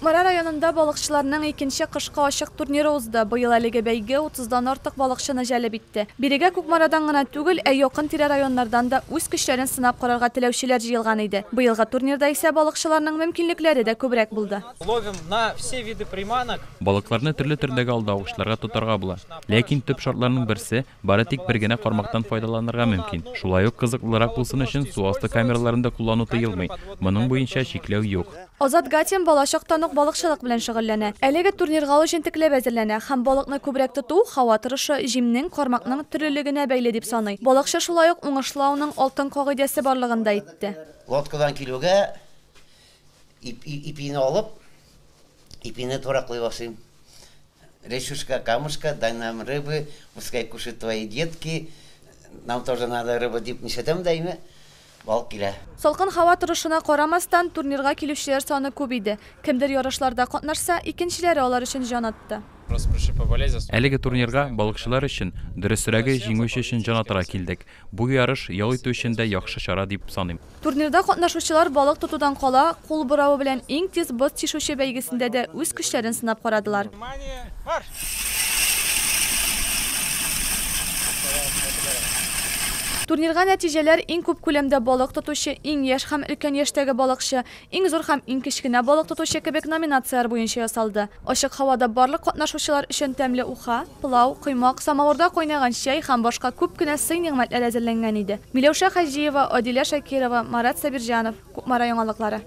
Кукмара районында балыкчыларның икенче кышкы ачык турниры узды. Быел әлеге бәйге 30 дан артык балыкчыны җәлеп итте. Бирегә Кукмарадан гына түгел, ә якын-тирә районнардан да үз көчләрен сынап карарга теләүчеләр җыелган иде. Быелгы турнирда исә балыкчыларның мөмкинлекләре дә күбрәк булды. Ловим на все виды приманок. Балыкларны төрле төрдәге алдавычларга тотарга була. Ләкин төп шартларның берсе, Бары тик бер генә кармактан файдаланырга мөмкин. Шулай ук кызыклырак булсын өчен су асты камераларын да куллану тыелмый. Моның буенча чикләү юк. Азат Гатин балачактан ук балыкчылык белән шөгыльләнә. Әлеге турнирга ул җентекләп әзерләнә һәм балыкны күбрәк тоту, һава торышы, җимнең, кармакның төрлелегенә бәйле дип саный. Балыкчы шулай ук уңышлы ауның алтын кагыйдәсе барлыгын да әйтте. Лодкадан килүгә, Ипине алып, ипине тураклый башлыйм. Речушка, камушка, дай нам рыбы, пускай кушают твои детки, нам тоже надо рыбы, дип нишәтәм дә инде, балык килә. Салкын һава торышына карамастан, турнирга килүчеләр саны күп иде. Кемдер ярышларда катнашса, икенчеләре алар өчен җан атты. Әлеге турнирга балыкчылар өчен, дөресрәге, җиңүче өчен җан атарга килдек. Бу ярыш ял итү өчен дә яхшы чара дип саныйм. Турнирда катнашучылар балык тотудан кала, кул буравы белән иң тиз боз тишүче бәйгесендә дә үз көчләрен сынап карадылар. Турнирга нәтиҗәләр иң күп күләмдә балык тотучы, иң яшь һәм өлкән яшьтәге балыкчы, Иң зур һәм иң кечкенә балык тотучы кебек номинацияләр буенча ясалды. Ачык һавада барлык катнашучылар өчен тәмле уха, пылау, коймак, самавырда кайнаган чәй һәм башка күп кенә сый-нигъмәтләр әзерләнгән иде. Миләүшә Хаҗиева, Адилә Шакирова, Марат Сабирҗанов, Кукмара яңалыклары.